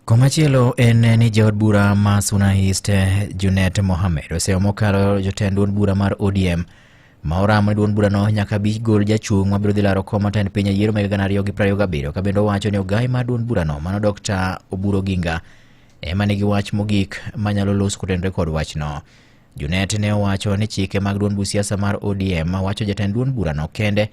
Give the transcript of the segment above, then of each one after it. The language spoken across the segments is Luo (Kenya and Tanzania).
Komachielo en ni jaod bura ma Suna East Junet Mohamed oseyo mokalo jotend duond bura mar ODM ma oramo ni duond burano nyaka bi gol jachung' mabiro dhi laro kom matend piny e yiero mag gana ariyo gi piero ariyo gabiriyo ka bende owacho ni ogayi mar duond burano mano Dr. Oburu Oginga ema nigi wach mogik manyalo los kotenore kod wachno. Junet ne owacho ni chike mag duond busiasa mar ODM wacho jatend duond burano kende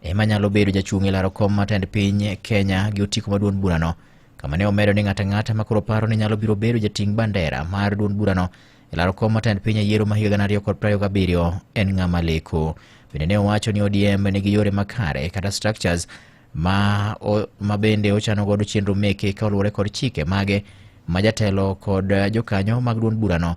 ema nyalo bedo jachung' e laro kom mar tend piny Kenya gi otiko ma duond burano kama ne omedo ni ng'ato ang'ata ma koro paro ni nyalo biro bedo jating' bandera mar duond burano e laro kom mar tend piny e yiero ma higa gana ariyo kod piero ariyo gabiriyo en ng'ama leko. Bende ne owacho ni ODM nigi yore makare kata structures ma, o, ma bende ochano godo chenro meke ka oluwore kod chike mage ma jatelo kod jokanyo mag duond burano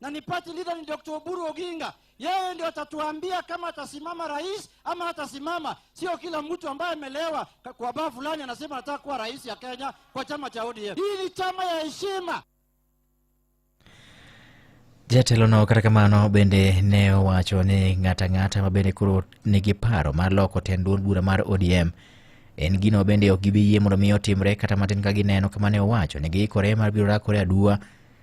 na ni party leader ni Dr. Oburu Oginga. Yeye ndio atatuambia kama atasimama rais ama hatasimama. Sio kila mtu ambaye amelewa ka- kwa baa fulani anasema anataka kuwa rais ya Kenya kwa chama cha ODM. Hii ni chama ya heshima. Jatelono kata kamano bende ne owacho ni ng'ata ng'ata ma bende koro nigi paro mar loko tend duond bura mar ODM en gino bende ok gibi yie mondo mi otimre kata matin ka gineno kama ne owacho ni giikore mar biro rakore aduwa